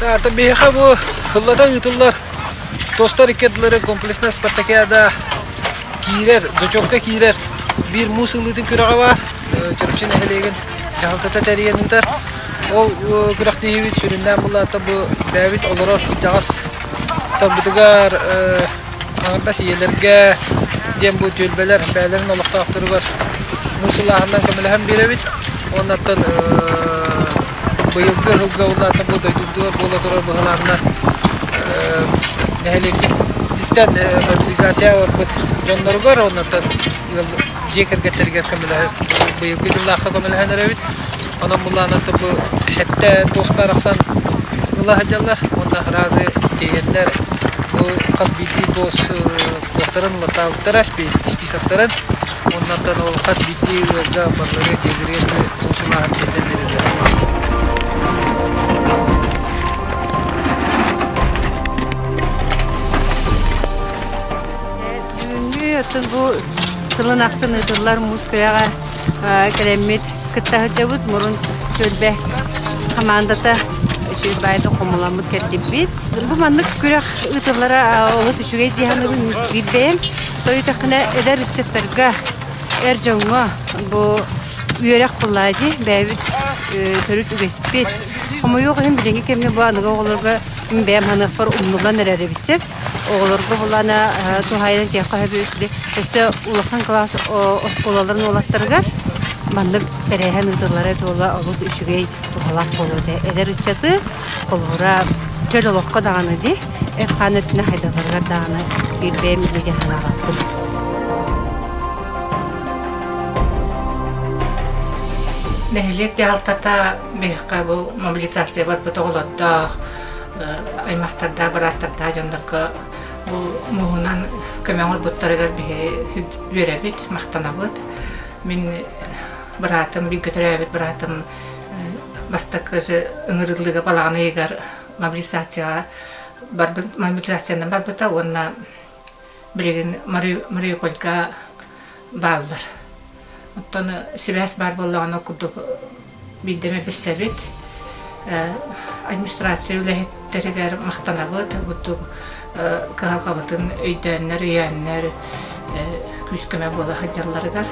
Таата биһиэхэ бу ыллата ыытыллар тостар икки ардылары комплексная спартакиада киирэр, зачетка киирэр биир муус ылыытын күрэҕэ баар. Чурапчы нэһилиэгин дьаһалтата тэрийэн ыытар. Ол күрэхтэһиибит сүрүннээн булаата бу бэйэбит олорор итэҕэс тарбытыгар Хаҥырдас ийэлэргэ диэн бу түөлбэлэр бэйэлэрин олохтоохторугар муусулааһынынан көмөлөһөн биэрэбит. Уоннаттан быйылгы ыһылга улаатан бу дойдубутугар буола турар быһылаанынан нэһилиэкпититтэн мобилизация ылбыт дьонноругар уоннаттан дьиэ кэргэттэригэр көмөлөһөн быйылгы дьыллаахха көмөлөһөн эрэбит. Онон мулаанаттан бу хэттэ туоска арахсан ыла сылдьаллар уонна разы тиэйэннэр бу хас биирдии туос туостарын улатаабыттара списоктарын онно аттан ол хас биирдии ыалга барлары дьиэлэри аты туос ылааһын тиллэн бэриллэрэ Бүгүҥҥү атын бу сылын ахсын ыытыллар муус кыйаҕа кэлэммит кытта сылдьабыт мурун түөлбэ хамаандата үчүгэйбаайда хомуламмыт кэлдиппит бу маннык күрэх ыытыллара олус үчүгэй дии саныыбын биирбэйэм тойутахына эдэр ыччаттарга эр дьоҥҥо бу үөрэх буллаа дии бэйэбит төрүт үгэспит хомойуох иһин билиҥҥи кэмҥэ бу аныгы оҕолорго бэйэм ханыахпар умнуллан эрэр эбит сөп Оҕолорго булана туһаайан этиэххэ сөбү өссө улахан кылаас оскуолаларын уолаттарыгар маннык тэрээһин ыытыллара эбит буолла олус үчүгэй туһалаах буолуо этэ эдэр ыччаты холобура чөл олоххо даҕаны дии ef-хаан өттүнэн хайдалларыгар даҕаны биирбэйэм миэдэ санаалаахпын нэһилиэк дьаһалтата биһиэхэ бу мобилизация барбыт оҕолордоох аймахтардаах, бырааттардаах дьоннорго бу муһунан көмөҕө ылбыттарыгар биһи үөрэбит, махтанабыт. Мин быраатым, бииргэ төрөөбүт быраатым бастакы ыҥырыллыыга балаҕан ыйыгар мобилизацияҕа барбыт мобилизациянан барбыта уонна Билигин Мариупольга бааллар. Оттон сибээс баар буоллаҕына курдук биирдэмэ билсэбит. Администрация үлэһиттэригэр махтанабыт, бурдук кыһалҕабытын өйдөөннөр, өйөөннөр күүс-көмө буола сылдьалларыгар.